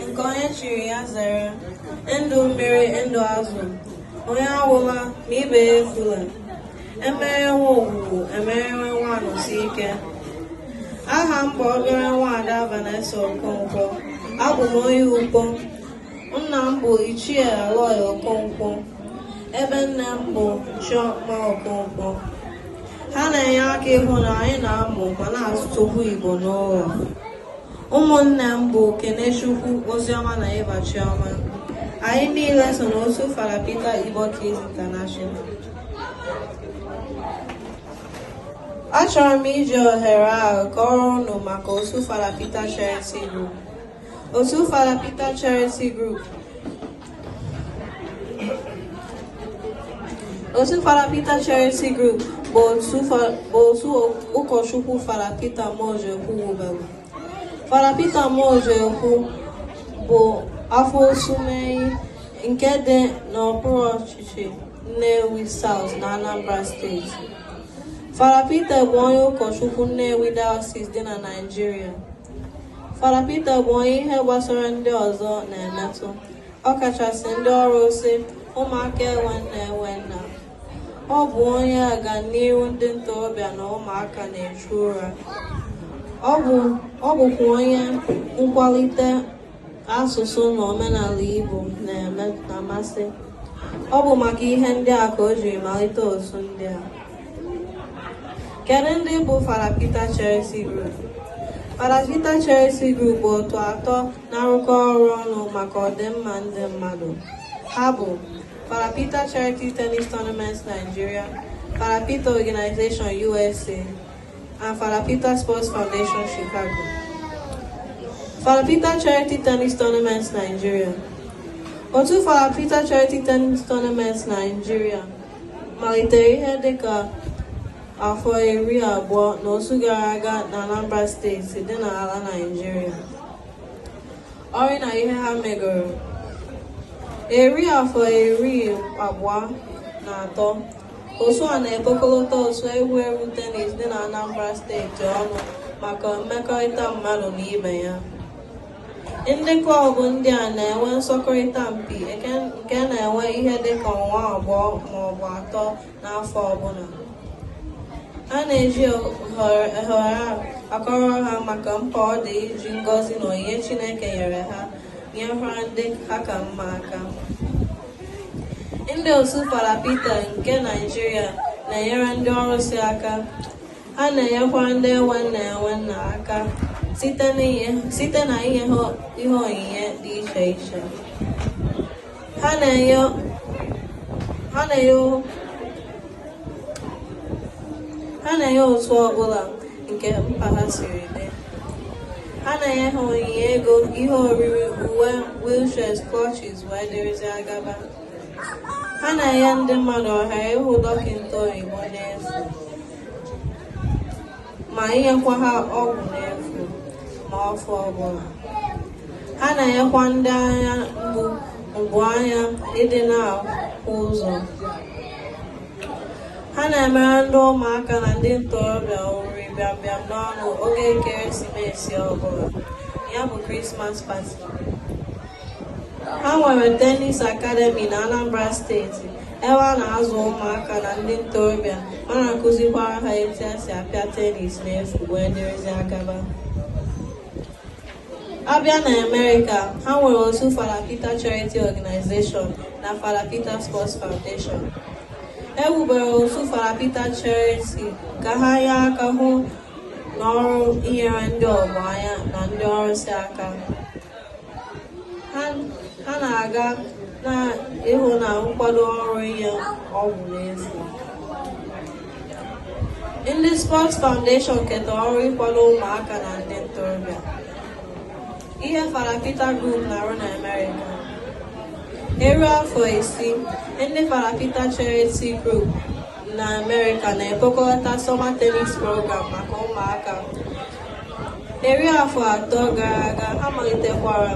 nke onye chiri ya zere ndụ mmiri ndụ azụ onye anwụla ma ibe ya efula emere nwa ogwugwu emere nwa Anọsike aha m bụ obere nwaada Vanessa Okonkwo abụ m onye Ukpo nna m bụ ichie Aloy Okonkwo ebe nne m bụ Chioma Okonkwo ha na-enye aka ịhụ na anyị na-amụ ma na-asụtụkwu Igbo n'ụlọ ụmụnne m bụ Kenechukwu Oziọma na Eva Chioma anyị niile so n'otu Fada Peter Igbo Kids International achọrọ m iji ohere ahụ kọrọ ụnụ maka otu Fada Peter Charity Group otu Fada Peter Charity Group otu Fada Peter Charity Group bụ otu ụkọchukwu Fada Peter Muojekwu wubere Fada Peter Muojekwu bụ afọ Osumenyi nke dị n'okpuru ọchịchị Nnewi South na Anambra steeti Fada Peter bụ onye ụkọchukwu Nnewi Diocese dị na Naịjirịa Fada Peter bụ onye ihe gbasara ndị ọzọ na-emetụ ọkachasị ndị ọrụsị ụmụaka enwe nne enwe nna ọ bụ onye ọganihu ndị ntorobịa na ụmụaka na-echu ụra ọ bụkwa onye nkwalite asụsụ na omenala Igbo na-amasị ọ bụ maka ihe ndị a ka o jiri malite otu ndị a kedu ndị bụ Fada Peter Charity Group Fada Peter Charity Group bụ otu atọ na-arụkọ ọrụ ọnụ maka ọdịmma ndị mmadụ ha bụ Fada Peter Charity Tennis Tournament Nigeria Fada Peter Organization USA and Fada Peter Sports Foundation Chicago. Fada Peter Charity Tennis Tournament Nigeria. Otu Fada Peter Charity Tennis Tournament Nigeria malitere ihe dịka afọ iri abụọ na otu gara aga na Anambra steeti dị n'ala Nigeria. ọrụ na ihe ha megoro eri afọ iri abụọ na atọ otu a na-ekpokọlọta otu egwuregwu tenis dị na Anambra steeti ọnụ maka mmekọrịta mmadụ na ibe ya ndị klọbụ ndị a na-enwe nsọkọrịta mpi nke na-ewe ihe dịka ọnwa abụọ maọbụ atọ n'afọ ọbụla ha na-eji ohere akọrọ ha maka mkpa ọ dị iji ngọzi na onyinye Chineke nyere ha nyekwara ndị ha ka mma aka ndị otu Fada Peter nke Naịjirịa na-enyere ndị ọrụsị aka ha na-enyekwa ndị enwe nne enwe nna aka site na inye ha ihe onyinye dị iche iche ha na-enye otu ọbụla nke mkpa ha siri dị ha na-enye ha onyinye ego ihe oriri uwe wheelchairs crutches wee dịrịzia gaba ha na-enye ndị mmadụ ohere ịhụ dọkịta oyibo n'efu ma inyekwa ha ọgwụ n'efu n'afọ ọbụla ha na-enyekwa ndị anya mgbu mgbu anya ịdị na-ahụ ụzọ ha na-emere ndị ụmụaka na ndị ntorobịa oriri bịambịam n'ọnụ oge ekeresimesi ọbụla ya bụ Christmas party ha nwere tennis academy na Anambra steeti ebe a na-azụ ụmụaka na ndị ntorobịa ma na-akụzikwara ha etu e si apịa tennis n'efu wee dịrịzia gaba a bịa na Amerịka ha nwere otu Fada Peter Charity Organization na Fada Peter Sports Foundation e wubere otu Fada Peter Charity ka ha nye aka hụ n'ọrụ inyere ndị ogbenye na ndị ọrụsị aka ha na-aga na ịhụ na nkwado ọrụ inye ọgwụ n'efu ndị Sports Foundation keta ọrụ ịkwado ụmụaka na ndị ntorobịa ihe Fada Peter Group na-arụ na Amerịka eri afọ isii ndị Fada Peter Charity Group na Amerịka na-ekpokọta summer tennis program maka ụmụaka Eri afọ atọ gara aga a malitekwara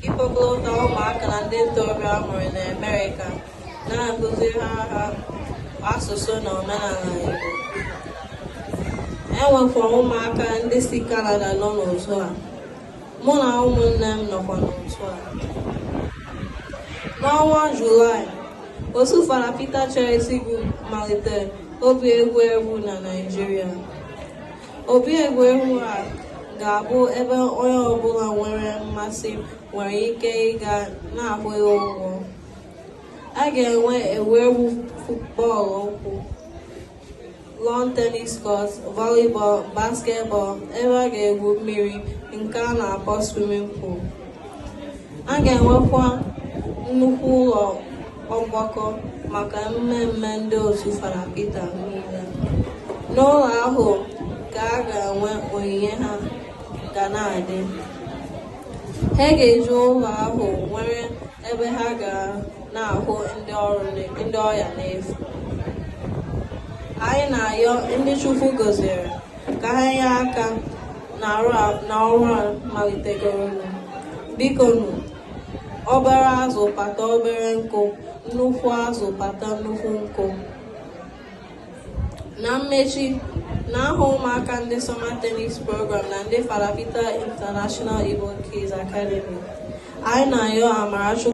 ịkpọkọta ụmụaka na ndị ntorobịa a mụrụ na Amerịka na-akụziri ha asụsụ na omenala Igbo. E nwekwara ụmụaka ndị si Kanada nọ n'otu a. Mụ na ụmụnne m nọkwa n'otu a. N'ọnwa Julaị, otu Fada Peter Charity Group malitere obi egwuregwu na Naịjirịa. Obi egwuregwu a ga-abụ ebe onye ọbụla nwere mmasị nwere ike ịga na-akwụghị ụgwọ. A ga-enwe egwuregwu futbọọlụ ụkwụ, lawn tennis court, volleyball, basketball, ebe a ga-egwu mmiri nke a na-akpọ swimming pool. A ga-enwekwa nnukwu ụlọ ọgbakọ maka mmemme ndị otu Fada Pita niile n'ụlọ ahụ ka a ga-enwe onyinye ha ga na-adị ha ga-eji ụlọ ahụ nwere ebe ha ga na-ahụ ndị ọrịa n'efu anyị na-ayọ ndị Chukwu gọziri ka ha nye aka na ọrụ a malitegoro biko nụ Obere azụ kpata obere nkụ, nnukwu azụ kpata nnukwu nkụ. Na mmechi, na aha ụmụaka ndị Summer Tennis Program na ndị Fada Pita International Igbo Kids Academy, anyị na-ayọ amara Chukwu